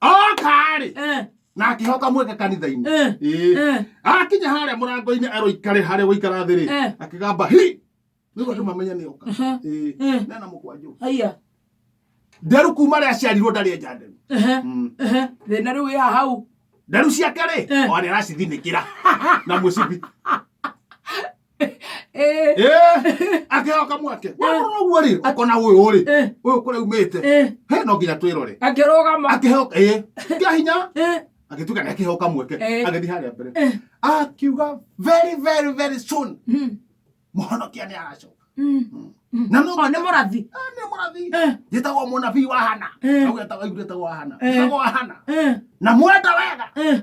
okarĩ eh. na akihoka mweke kanitha-inĩ eh. eh. akinya harĩa mũrango-inĩ aroikare harĩa gũikara thĩ rĩ akĩgamba hi nĩguo andũ mamenye nĩ oka nena mũkwanjũ haiya nderu kuma rĩa ciarirwo ndarĩ enja nderu mm. thĩna rĩu ya hau nderu ciake rĩ o nĩ aracithinĩkĩra na mũcibi Eh, Eh, akĩhoka mwake warora ũguo rĩ ũkona ũyũ rĩ eh, ũyũ kũrĩa umĩte eh. he no nginya twĩrore akĩrũgama akĩhoka ĩ kĩa hinya Eh, agĩtuĩka nĩ akĩhoka mweke Eh. agĩthiĩ harĩa mbere eh, akiuga very very very soon mm, mũhonokia nĩ aracoka mm, mm. na no Ɔ, nĩ mũrathi Ah, nĩ mũrathi Eh, njĩtagwo mũnabii wa hana Eh. augĩtagwo aigũrĩtagwo wa hana Eh. njĩtagwo wa hana eh, na mwenda wega eh.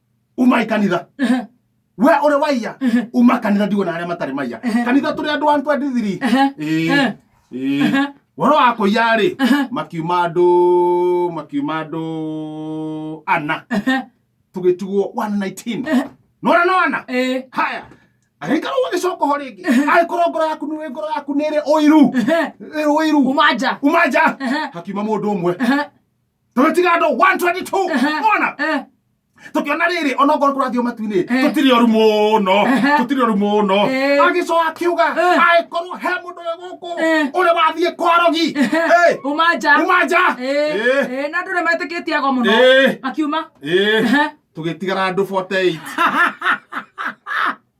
uma ikanitha Ehe. we uri waiya Ehe. uma kanitha ndigo na aria matari maiya Ehe. kanitha turi andu 123 Ehe. Ĩĩ, Ehe. ĩĩ. Ehe. woro wa kuiya ri Ehe. makiuma andu makiuma andu ana Ehe. tugitigwo 119 Ehe. nora no ana Eh. haya agĩikara ũgagĩcoka ho rĩngĩ agĩkorwo ngoro yaku nĩ ngoro yaku nĩ ĩrĩ ũiru Ehe. ĩrĩ ũiru Umaja. uma nja Ehe. hakiuma mũndũ ũmwe Ehe. tũgĩtiga andũ 122 Ehe. ona Eh, tũkĩona rĩrĩ onokorwo tũrathiĩ o matu-inĩ Eh. tũtirĩ oru mũno Ehe. tũtirĩ oru mũno Eh. agĩcoka akiuga Eh. angĩkorwo he mũndũ wĩ gũkũ Eh. ũrĩa wathiĩ kwa rogi eh, Eh, uma nja uma nja Eh, Eh, eh, na andå rä metä kä tie ago må no Eh. makiuma eh. Ehe. tũgĩtigara andũ 48